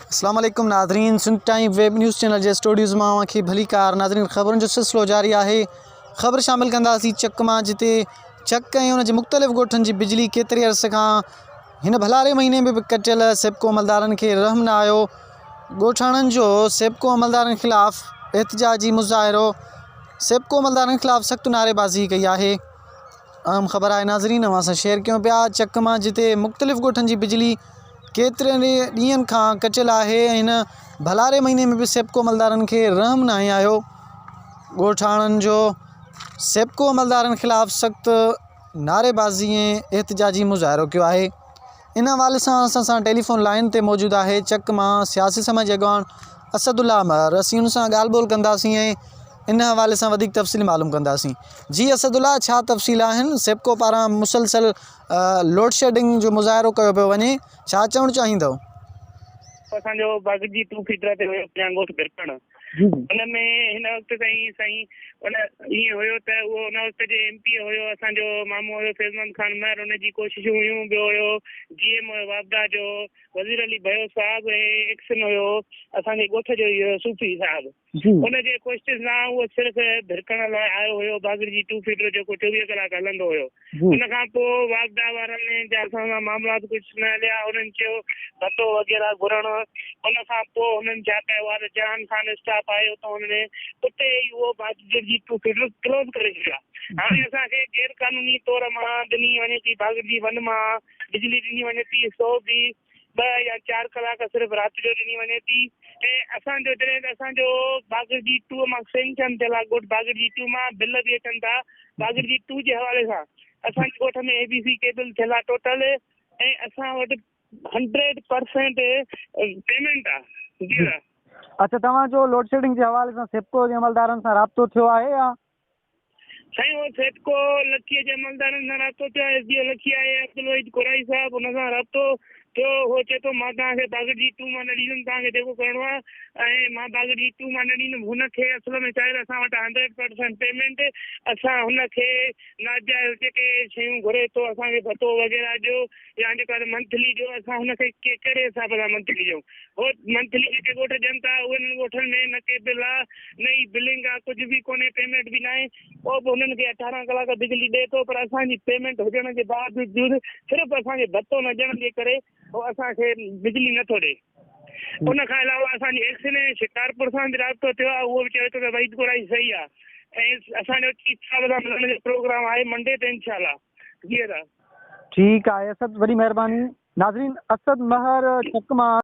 السلام عليڪم ناظرين Sindh time web news channel جي اسٽوڊيوز مان اوهان کي ڀلي ڪار ناظرين خبرن جو سلسلو جاري آهي خبر شامل ڪنداسين چڪ مان جتي چڪ ۽ ان جي مختلف ڳوٺن جي بجلي ڪيتري عرص کان هن ڀلاري مهيني ۾ به ڪٽيل سيپڪو عملدارن کي رحم نه آيو ڳوٺاڻن جو سيپڪو عملدارن خلاف احتجاجي مظاهرو سيپڪو عملدارن خلاف سخت نعريبازي ڪئي آهي اهم خبر آهي ناظرين اوهان سان شيئر ڪيون پيا چڪ مان جتي مختلف ڳوٺن جي بجلي ڪيترن ئي ڏينهن کان ڪٽيل آهي ۽ هن ڀلاري مهيني ۾ به سيپڪو عملدارن کي رحم ناهي آيو ڳوٺاڻن جو سيپڪو عملدارن خلاف سخت نعري بازي ۽ احتجاجي مظاهرو ڪيو آهي ان حوالي سان اسان سان ٽيليفون لائين تي موجود آهي چڪ مان سياسي سماجي اڳواڻ اسد الله امر اسين ان سان ڳالهه ٻولهه ڪنداسين ۽ ان حوالي سان وڌيڪ تفصيل معلوم ڪنداسين جي اسد الله ڇا تفصيل آهن سيپڪو پاران مسلسل لوڊ شيڊنگ جو مظاهرو ڪيو پيو وڃي ڇا چوڻ چاهيندو اسان جو باغ جي ٽو فيٽر تي هيو پنجان ڳوٺ برپڻ ان ۾ هن وقت تائين سائين ان ائين هيو ته اهو ان وقت جي ايم پي اي هيو اسان جو مامو هيو فيضمحمد خان مهر ان جي ڪوششون هيون ٻيو هيو جي ايم هيو واپڊا جو وزير علي ڀيو صاحب هي ايڪسن هيو اسان جي ڳوٺ جو ئي هيو صوفي صاحب ان جي ڪوششن سان اهو صرف ڀرڪڻ لاء آيو هيو باگڙجي ٽو فيڊر جيڪو چوويهه ڪلاڪ هلندو هيو. ان کان پوء واپڊا وارن جا اسان سان معاملات ڪجهه نه هليا، انهن چيو ڀتو وغيره گهرڻ، ان کان پوء هنن ڇا ڪيو آهي ته جهان خان اسٽاف آيو ته هن ني اتي ئي اهو باگڙجي جي فيڊر ڪلوز ڪري ڇڏيو آهي، هاڻي اسان کي غير قانوني طور مان ڏني وڃي ٿي، باگڙجي ون مان بجلي ڏني وڃي ٿي، سو به. ٻه يا چار ڪلاڪ صرف رات جو ڏني وڃي ٿي ۽ اسان جو جڏهن ته اسان جو باگڙجي ٽو مان سينڪشن ٿيل آهي ڳوٺ باگڙجي ٽو مان بل به اچن ٿا باگڙجي ٽو جي حوالي سان اسان جي ڳوٺ ۾ اي بي سي ڪيبل ٿيل آهي ٽوٽل ۽ اسان وٽ هنڊريڊ پرسينٽ پيمنٽ آهي جي اچھا توهان جو لوڊشيڊنگ جي حوالي سان سيپڪو جي عملدارن سان رابطو ٿيو آهي يا سائين او سيپڪو لکيء جي عملدارن سان رابطو ٿيو، ايس ڊي او لکيء اي عبدالوحيد ڪورائي صاحب ان سان رابطو ٿيو، هو چئي ٿو مان توهان کي باگڙجي ٽو مان نه ڏيندم، توهان کي جيڪو ڪرڻو آهي ۽ مان باگڙجي ٽو مان نه ڏيندم، هن کي اصل ۾ شايد اسان وٽ هنڊريڊ پرسنٽ پيمينٽ، اسان هن کي ناجائز جيڪي شيون گهري ٿو اسان کي ڀتو وغيره ڏيو، يا جيڪو آهي منٿلي جو اسان هن کي ڪهڙي حساب سان منٿلي ڏيون هو منٿلي جيڪي ڳوٺ ڏين ٿا انهن ڳوٺن ۾ نه ڪي بل آهي نه ئي بلنگ آهي ڪجهه به ڪونهي پيمينٽ به ناهي پوء به انهن کي اٺارهن ڪلاڪ بجلي ڏئي ٿو پر اسان جي پيمينٽ هجڻ جي باوجود صرف اسان کي ڀتو نه ڏيڻ جي ڪري هو اسان کي بجلي نه ٿو ڏئي ان کان علاوه اسان جي ايڪس ني شڪارپور سان به رابطو ٿيو آهي اهو به چوي ٿو ته وحيد گوڙائي صحيح آهي ۽ اسان جو چيف صاحب سان ملڻ جو پروگرام آهي منڊي تي انشاء الله جي ها ٺيڪ آهي اسد وڏي مهرباني ناظرين اسد مهر چڪ مان